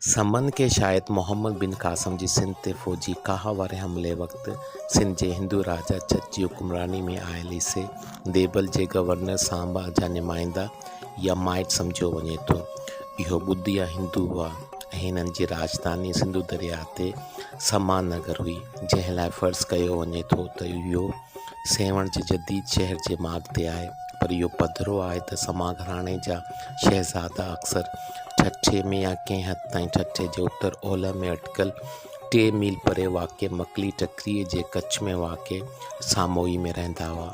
سمن کي شايد محمد بن قاسم جي سنڌ تي فوجي ڪاهه واري حملي وقت سنڌ جي هندو راجا جت جي حڪمراني ۾ آيل عيسي ديبل جي گورنر سانبه جا نمائندا يا مائٽ سمجهيو وڃي ٿو. اهو ٻڌيا هندو هئا ۽ هنن جي راڄڌاني سنڌو درياهه تي سما نگر هئي، جنهن لاء فرض ڪيو وڃي ٿو ته اهو سيوهڻ جي جديد شهر جي ماڳ تي آهي، پر اهو پڌرو آهي ته سما گهراڻي جا شهزادا اڪثر ٺٽي ۾ يا ڪنهن حد تائين ٺٽي جي اتر اولهه ۾ اٽڪل ٽي ميل پري واقع مڪلي ٽڪريء جي ڪڇ ۾ واقع ساموئي ۾ رهندا هئا.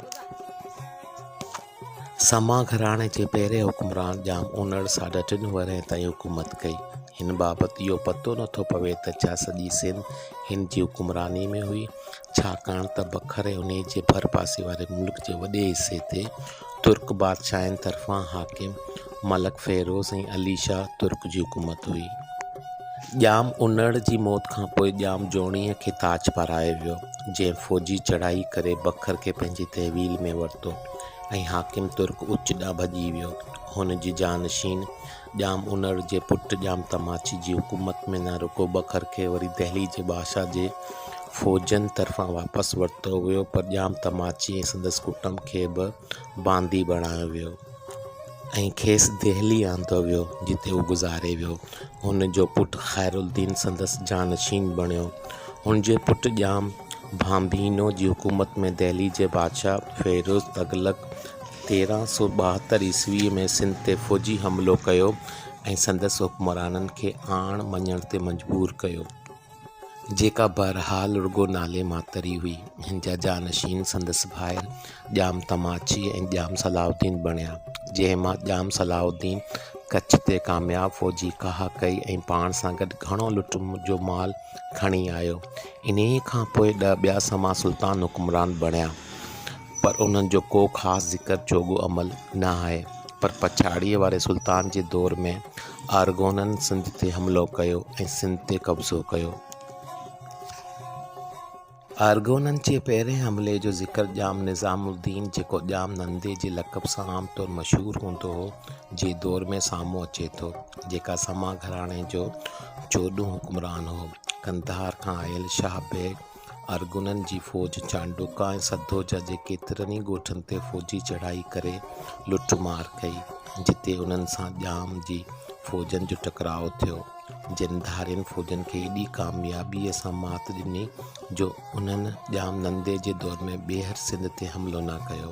سما گهراڻي جي پهرين حڪمران ڄام اونڙ ساڍا ٽن ورهين تائين حڪومت ڪئي. هن بابت اهو پتو نٿو پوي ته ڇا سڄي سنڌ هن جي حڪمرانيء ۾ هئي. ڇاڪاڻ ته بکر ۽ انهيء جي ڀرپاسي واري ملڪ جي وڏي حصي تي ترڪ بادشاهن طرفان حاڪم ملڪ فيروز ۽ علي شاهه ترڪ جي حڪومت هئي. ڄام انڙ جي موت کانپوء ڄام جوڻيء کي تاج پارايو ويو، جنهن فوجي چڙهائي ڪري بکر کي پنهنجي تحويل ۾ ورتو ۽ حاڪم ترڪ اچ ڏانهن ڀڄي ويو. هن جي جانشين ڄام انڙ جي پٽ ڄام تماچي جي حڪومت ۾ نه رڳو بکر کي وري دهليء جي بادشاهه جي فوجن طرفان واپس ورتو ويو پر ڄام تماچي ۽ سندس ڪٽنب کي به باندي بڻايو ويو ۽ کيس دهلي آندو ويو جتي هو گذاري ويو هن جو پٽ خير الدين سندس جانشين بڻيو هن جي پٽ ڄام ڀانڀينو جي حڪومت ۾ دهليء جي بادشاهه فيروز تغلق تيرهن سؤ ٻاهتر عيسويء ۾ سنڌ تي فوجي حملو ڪيو ۽ سندس حڪمرانن کي آڻ مڃڻ تي مجبور ڪيو، جيڪا بهرحال رڳو نالي ماتر ئي هئي. هن جا جانشين سندس ڀائر ڄام تماچي ۽ ڄام صلاح الدين بڻيا، جنهن مان ڄام صلاح الدين ڪڇ تي ڪامياب فوجي ڪاهه ڪئي ۽ پاڻ سان گڏ گهڻو لٽ جو مال کڻي آيو. انهيء کان پوء ڏهه ٻيا سما سلطان حڪمران بڻيا. پر انهن جو ڪو خاص ذڪر جوڳو عمل نه آهي. پر پڇاڙيء واري سلطان جي دور ۾ آرغونن سنڌ تي حملو ڪيو ۽ سنڌ تي قبضو ڪيو. آرغونن جي پهرئين حملي جو ذڪر ڄام نظام الدين، جيڪو ڄام نندي جي لقب سان عام طور مشهور هوندو هو، جي دور ۾ سامهون اچي ٿو، جيڪا سما گهراڻي جو چوڏهون حڪمران هو. قنڌار کان آيل شاهه بيگ ارغونن جي فوج چانڊوڪا ۽ سڌوجا جي ڪيترن ئي ڳوٺن تي فوجي چڙهائي ڪري لٽ مار ڪئي، جتي انهن سان ڄام جي فوجن جو ٽڪراء ٿيو، جن ڌارين فوجن کي ايڏي ڪاميابيء سان مات ڏني، جو انهن ڄام نندي جي دور ۾ ٻيهر سنڌ تي حملو نه ڪيو.